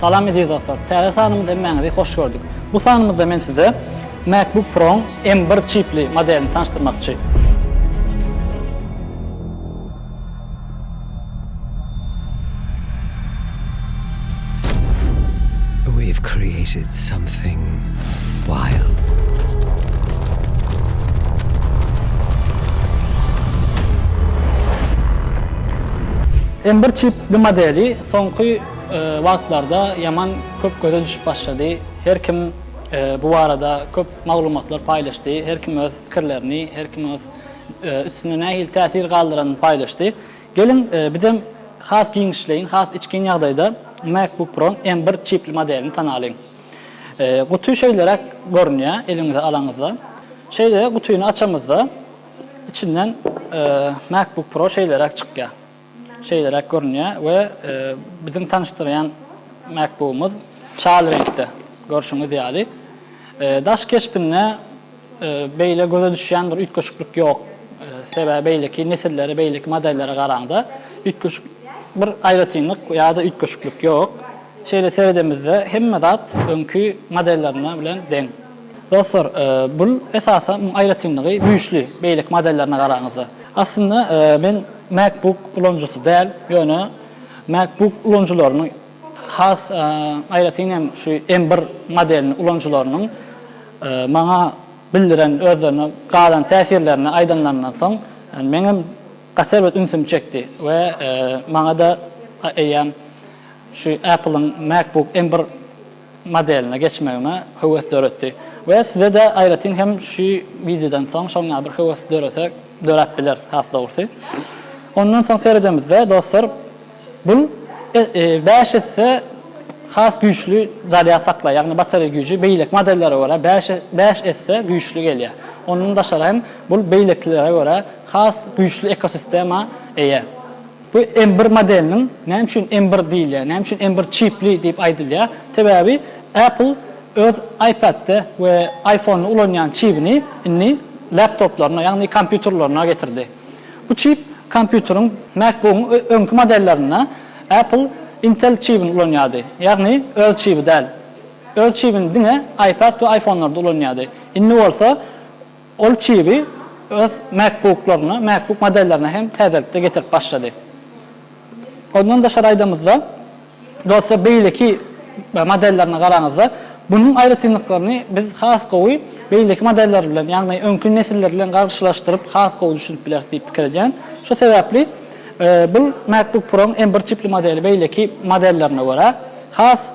Salam eziz dostlar. Täze sanymyzda hemmäňizi hoş gördük. Bu sanymyzda men size MacBook Pro-nyň M1 çipli modelini tanyşdyrmakçy. We've created something wild. M-bir çipli modeli soňky wagtlarda ýaman köp göze düşüp başlady. Her kim bu barada köp maglumatlar paýlaşdy. Her kim öz pikirlerini, her kim öz üstünde nähili täsir galdyranyny paýlaşdy. Geliň, bizem has giňişleýin, has içgin ýagdaýda MacBook Pro-nyň M bir çipli modelini tanalyň. Guty şeýleräk görünýär, eliňize alaňyzda. Şeýle gutyny açamyzda, içinden MacBook Pro şeýleräk çykýar. Şeýleräk görünýär we biziň tanyşdyrýan MacBook-ymyz çal reňkde, görşüňiz ýaly. Daş keşbinde beýle göze düşýän bir üýtgeşiklik ýok. Sebäbi beýleki nesillere, beýleki modellere garaňda üýtgeşik bir aýratynlyk ýa-da üýtgeşiklik ýok. Şeýle seredemizde hemme zat öňki modellerine bilen deň. Dostlar, bul esasy aýratynlygy güýçli beýleki modellerine garanyňyzda. Aslynda men MacBook ulanyjysy däl, ýöne MacBook ulanyjylarynyň has aýratyn hem şu M bir modelini ulanyjylarynyň maňa bildiren özlerine galan täsirlerini aýdanlaryndan soň meňem gaty erbet ünsümi çekdi we maňada eýýäm şu Apple-yň MacBook M bir modeline geçmegime höwes döretdi we size-de aýratyn hem şu wideodan soň şoňa bir höwes dörese döräp biler has dogrusy. Ondan soň seredemizde dostlar bul bäş esse has güýçli zarýad saklaýar, ýagny batareýa güýji beýleki modellere görä bäş bäş esse güýçli gelýär. Ondan daşary hem bul beýlekilere görä has güýçli ekosistema eýe. Bu M bir modeliniň näme üçin M bir diýilýär, näme üçin M bir çipli diýip aýdylýar? Sebäbi Apple öz iPad-de we iPhone-da ulanýan çibini indi laptoplaryna, ýagny kompýuterlerine getirdi. Bu çip kompýuteriň MacBook-yň öňki modellerinde Apple Intel çibini ulanýardy, ýagny öz çibi däl. Öz çibini diňe iPad we iPhone-larda ulanýardy. Indi bolsa Ol çibi öz MacBook-laryna, MacBook modellerine hem täzelikde getirip başlady. Ondan daşary aýdamyzda, dostlar beýleki modellerine garaňyzda, bunuň aýratynlyklaryny biz has gowy beýleki modeller bilen, ýagny öňki nesiller bilen garşylaşdyryp has gowy düşünip bileris diýip pikir edýän. Şo sebäpli bu MacBook Pro-nyň M bir çipli modeli beýleki modellerine görä has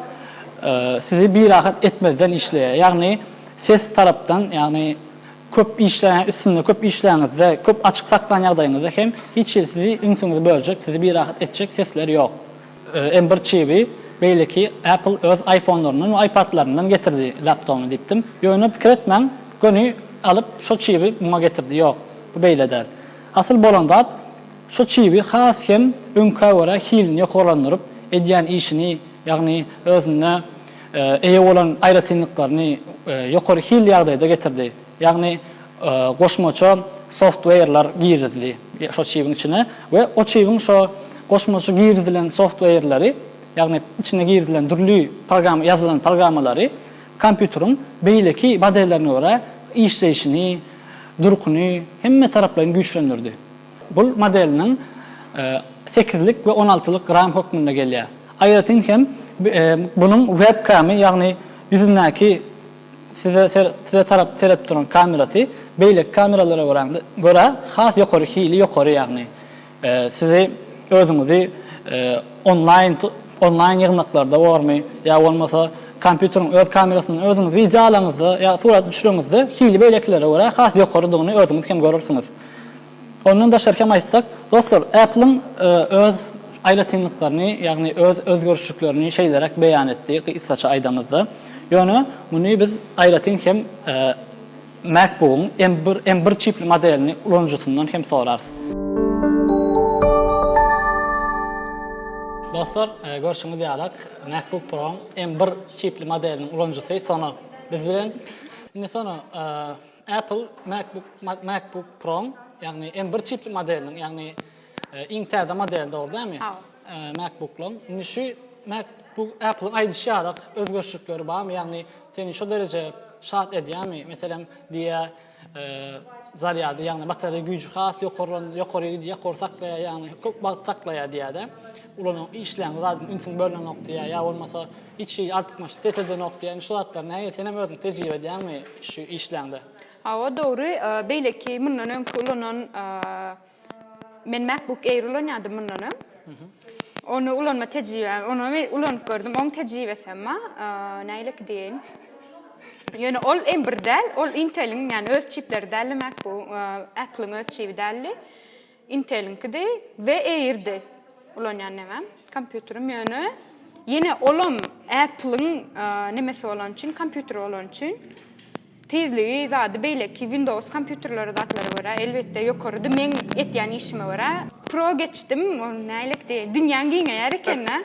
sizi birahat etmezden işleýär. Ýagny Ses tarapdan, ýagny köp işleýän, üstünde köp işläňizde, köp açyk saklan ýagdaýyňyzda hem hiç hili sizi ünsüňizi böljek, sizi birahat etjek sesler ýok. M bir çibi beýleki Apple öz iPhone-laryndan we iPad-laryndan getirdi laptogyny diýipdim. Ýöne pikir etmäň, göni alyp şo çibi muňa getirdi, ýok, bu beýle däl. Asyl bolan zat, şo çibi has hem öňkä görä hilini ýokarlandyryp, edýän işini, ýagny özünde eýe bolan aýratynlyklaryny ýokary hil ýagdaýda getirdi. Ýagny goşmaça softweýrler girizdi şo çibiň içine we o çibiň şo goşmaça girizilen softweýrleri, ýagny içine girizilen dürli program ýazylan programmalary kompýuteriň beýleki modellerine görä işleýşini, durkuny hemmetaraplaýyn güýçlendirdi. Bul modeliniň sekizlik we on altylyk ram hökmünde gelýär. Aýratyn hem bunuň webkamy ýagny ýüzündäki size tarap seredip duran kamerasy beýleki kameralara görä has ýokary hili ýokary ýagny sizi özüňizi onlaýn onlaýn ýygnaklarda bormy ýa bolmasa kompýuteriň öz kamerasyndan özüňiz wideo alaňyzda ýa surat düşüreňizde hili beýlekilere görä has ýokarydygyny özüňiz hem görürsiňiz. Ondan daşarky hem aýtsak, dostlar, Apple-iň öz aýratynlyklaryny, ýagny öz özgerişliklerini şeýleräk beýan etdi, gysgaça aýdamyzda. Ýöne muny biz aýratyn hem MacBook-yň M bir M bir çipli modelini ulanyjysyndan hem sorarys. Dostlar, görşüňiz ýalyk, MacBook Pro-yň M bir çipli modeliniň ulanyjysy Sono biz bilen. Indi Sono, Apple MacBook MacBook Pro, ýagny M bir çipli modeliniň, ýagny iň täze modeli dogry dämi? MacBook-laň. Indi şu MacBook Apple-yň aýdyşy ýaly özgerişlikleri barmy? Ýagny seni şo dereje şat edýärmi? Meselem, diýýä, zarýady, ýagny batareýa güýji has ýokarlan, ýokary gidýär, ýokary saklaýar, ýagny köp wagt saklaýar diýýär-de. Ulanyň, işleýäň zat, ünsüň bölünenok diýýär, ýa bolmasa, Hiç hili artykmaçlyk ses edenok diýen şu zatlar nähili senem özüň tejribe edýäňmi şu işleňde. Hawa dogry beýleki mundan öňki ulanan men MacBook Air ulanýadym mundan öň. Ony ulanma tejribem ony men ulanyp gördüm oň tejribesi hem bar nähili ki diýeýin. Ýöne ol m bir däl ol Inteliň ýani öz çipleri däldi MacBook Apple'yň öz çibi däldi. Intel-iňkidi we Air-di ulanýan nemem, kompýuterim, ýöne ýene olam Apple-iň nemesi bolany üçin, kompýuteri bolany üçin tizligi, zady beýleki Windows kompýuterlere, zatlara görä elbetde ýokarydy, meň etýän işime görä. Pro geçdim, ol nälik diýen, dünýäň giňeýär eken-dä.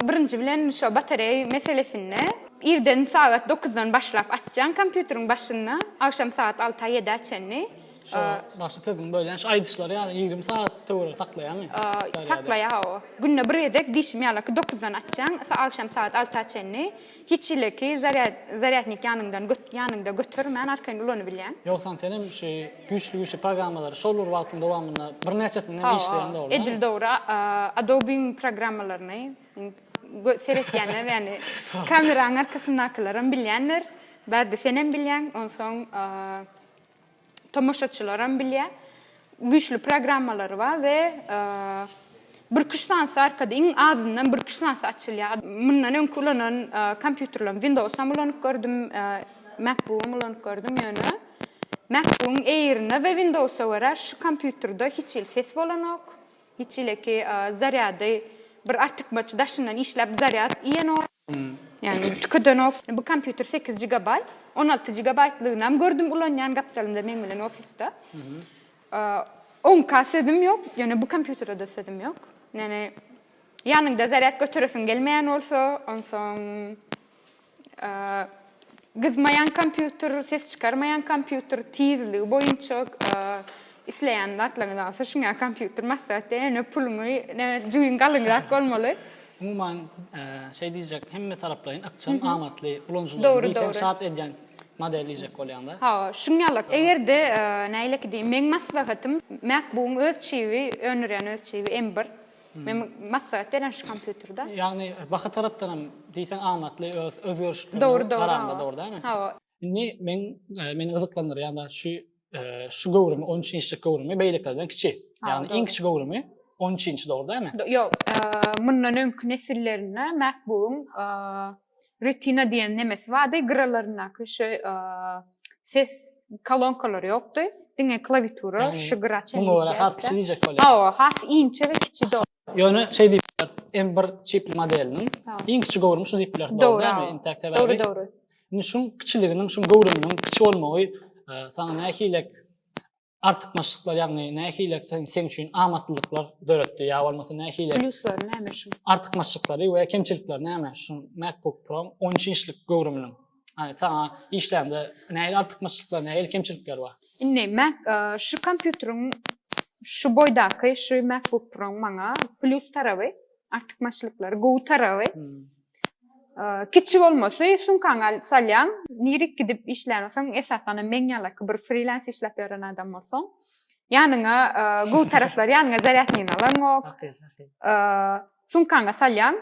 Birinji bilen şo batareý meselesinde irden sagat dokuzdan başlap açjaň kompýuteriň başynda agşam sagat alta ýedä çenli. Şo başy siziň bölýän şu aýdyşlary ýaly ýigrimi sagat töweregi saklaýamy? Saklaýa hawa. Günde bir gezek diýşim ýalyki dokuzdan açjaň agşam sagat alta çenli. Hiç hileki zarýadnik ýanyňdan ýanyňda götermän arkaýyn ulanybilýäň. Ýogsam senem şu güýçli güýçli programmalary şol bir wagtyň dowamynda birnäçesinde hem işleýäň dogrymy? Edil dogry Adobe-iň programmalaryny seretýänler ýani kameraň arkasyndakylaram bilýändir. Bärde senem bilýäň onsoň. tomaşaçylaram bilýä güýçli programmalary bar we bir iki üç sanysy arkady iň azyndan bir iki üç sanysy açylýa mundan öňki ulanan kompýuterlerim windowsam ulanyp gördüm mekbugam ulanyp gördüm ýöne mekbugyň eýrine we windowsa görä şu kompýuterde hiç hili ses bolanok hiç hileki zarýady bir artykmaç daşyndan işläp zarýad iýenok Ýagny tükedenok. Bu kompýuter sekiz gigabaýt, on alty gigabaýtlygynam gördüm ulanýan gapdalymda meň bilen ofisde. Oňka sözüm ýok, ýöne bu kompýutere-de sözüm ýok. Ýöne ýanyňda zarýad göteresiň gelmeýän bolsa, onsoň Gyzmaýan kompýuter, ses çykarmaýan kompýuter, tizligi boýunça isleýän zatlaryňyzy alyp düşünýän kompýuter maslahat diýen ýöne pulumy jübim galyňrak bolmaly. Umuman şeý diýjek hemme taraplaýyn ykjam amatly ulanyjylary diýseň şat edýän model diýjek bolýaňda. Hawa şuň ýalak egerde nähileki diýiň meň maslahatym MacBook-yň öz çibi öndürýän öz çibi M1. Men maslahat beren şu kompýuterde. Ýagny baha tarapdan hem diýseň amatly öz özgerişli garanda dur dämi? Hawa. Indi men meni gyzyklandyrýan-da şu şu göwrümi 13 inçlik göwrümi beýlekilerden kiçi. Ýagny iň kiçi göwrümi 13 inç dur dämi? Ýok. Mundan öňki nesillerinde MacBook-yň retina diýen nemesi bardy, gyralaryndaky şu ses kolonkalary ýokdy. Diňe klawiatura şu gyra çenli. Bu ora has kiçi diýjek bolýar. Hawa, has inçe we kiçi dog. Ýöne şeý diýip bileris, M1 çipli modeliniň iň kiçi göwrümi şu diýip bileris, dogrumy? Intäk sebäbi. Dogry, dogry. Indi şuň kiçiliginiň, şuň göwrüminiň kiçi bolmagy saňa nähili artykmaçlyklar ýagny nähili seň üçin amatlylyklar döretdi ýa bolmasa nähili pluslar näme şu artykmaçlyklary we kemçilikleri näme şu MacBook Pro 13 inçlik göwrüminiň Hani sana işlende nähili artykmaçlyklar nähili kemçilikler bar indi Mac e, şu kompýuteriň şu boýdaky şu MacBook Pro maňa plus tarawy artykmaçlyklary gowy tarawy hmm. Kiçi bolmasy sumkaňa salýaň, nirik gidip işlän bolsaň, esasanam meň ýalaky bir frilans işläp ýören adam bolsaň, ýanyňa gowy taraplary ýanyňa zarýadnyny alaňok. Sumkaňa salýaň,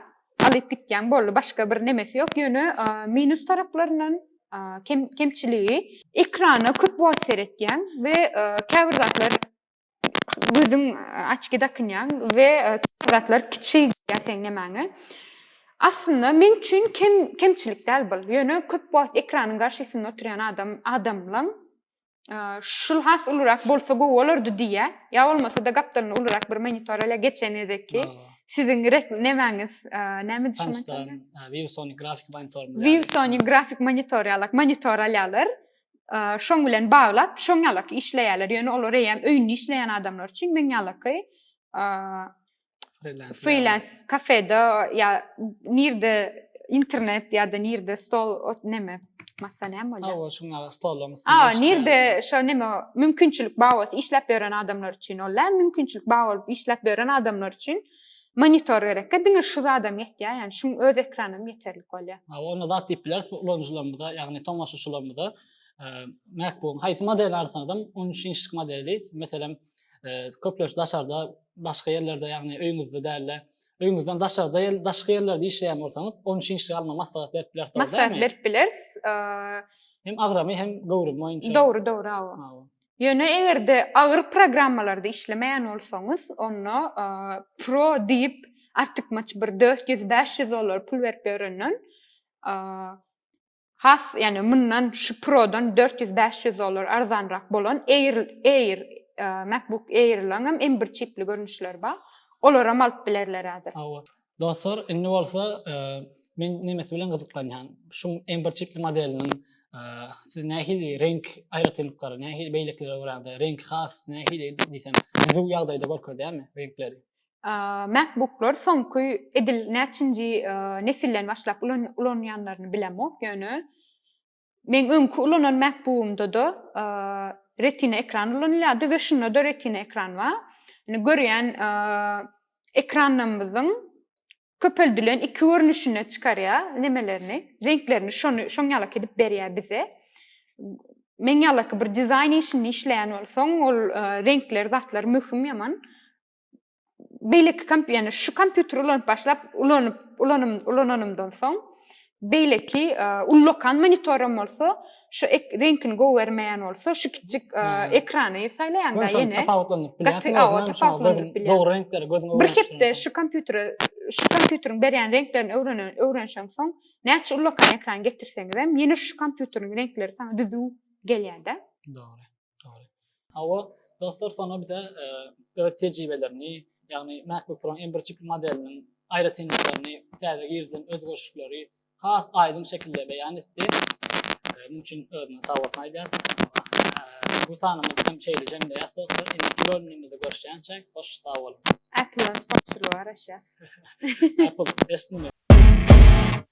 alyp gitýäň, boldy, başga bir nemesi ýok. Ýöne minus taraplaryndan kemçiligi ekrana köp wagt seretýäň we käbir zatlar gözüň açki dakynýaň we zatlar kiçi gelýär seň nemäňe. Aslynda men üçin kem kemçilik däl bul. Ýöne köp wagt ekranyň garşysynda oturýan adam adamlaň şul has ulurak bolsa gowy bolardy diýýä. Ýa bolmasa-da gapdalyna ulurak bir monitor ele geçen gezekki siziň nemäňiz näme düşünýäňiz? Viewsony grafik monitor. Viewsony grafik monitor ýalak monitor alýarlar. şoň bilen baglap şoň ýalaky işleýärler. Ýöne olar eýem öýünde işleýän adamlar üçin men ýalaky freelance kafede ýa nirde internet ýa-da nirde stol näme masa näme bolýar? Hawa, şoň ýaly stollar. Hawa, nirde şo näme mümkinçilik bar bolsa işläp ýören adamlar üçin ol mümkinçilik bar bolup işläp ýören adamlar üçin Monitor gerekkä diňe şu zadam ýetýär ýagny şuň öz ekranam ýeterlik bolýar. Hawa onda zat diýip bileris bu ulanyjylarymyza ýagny tomaşaçylarymyza MacBook-yň haýsy modelini alsaňyzam on üç inçlik modeli meselem köplenç daşarda başga ýerlerde ýagny öýüňizde däl-de öýüňizden daşarda daşky ýerlerde işleýän bolsaňyz on üç inçlik alma maslahat berip bileris. Maslahat berip bileris. Hem agramy hem göwrümi boýunça. Dogry dogry hawa. Ýöne eger-de agyr programmalarda işlemeýän bolsaňyz, onda Pro diýip artykmaç bir 400-500 dollar pul berip öwrenilen has ýani mundan şu prodan 400-500 dollar arzanrak bolan Air Air MacBook Air-laň hem M1 çipli görnüşleri bar. Olar hem alyp bilerler häzir. Dostlar, indi bolsa men nemesi bilen gyzyklanýan. Şu M1 çipli modeliniň siz nähili reňk aýratynlyklary, nähili beýlekilere görä reňk has nähili diýsem, düzüw ýagdaýda görkezýärmi reňkleri? MacBooklar soňky edil näçinji nesilden başlap ulanýanlaryny bilemok, ýöne Meň öňki ulanan MacBook'umda-da retina ekran ulanylýardy we şunda-da retina ekran bar. Ýani görýän ekranlarymyzyň köpeldilen iki görnüşinde çykarýar nemelerini, reňklerini şony şoň ýalak edip berýär bize. Meň ýalak bir dizaýn işinde işleýän bolsaň, ol reňkler, zatlar möhüm ýaman. beýleki komp ýani şu kompýuteri ulanyp başlap ulanyp ulanym ulananymdan soň beýleki e, ullakan monitoram bolsa şu reňkini gowy bermeýän bolsa şu kiçik e, ekrany saýlaýanda ýene tapawutlandyryp bilýärsiň tapawutlandyryp bilýär dogry reňkleri gözüňe bir hepde şu kompýutere şu kompýuteriň berýän reňklerini öwrenen öwrenşen soň näçe ullakan ekran getirseňiz hem ýene şu kompýuteriň reňkleri saňa düzüw gelýärde dogry Hawa, dostlar soňra bize öz tejribelerini, ýagny MacBook Pro-nyň iň birçi modeliniň aýratynlyklaryny, täze girizilen özgerişikleri has aýdyň şekilde beýan etdi. Munuň üçin özüne sag bolsun aýdýarys. Bu sanymyz hem şeýle jemleýäs dostlar. Indiki bölümimizde görüşýänçä, hoş sag boluň. Apple-yň sponsory bar aşa. Apple, eşitdim men.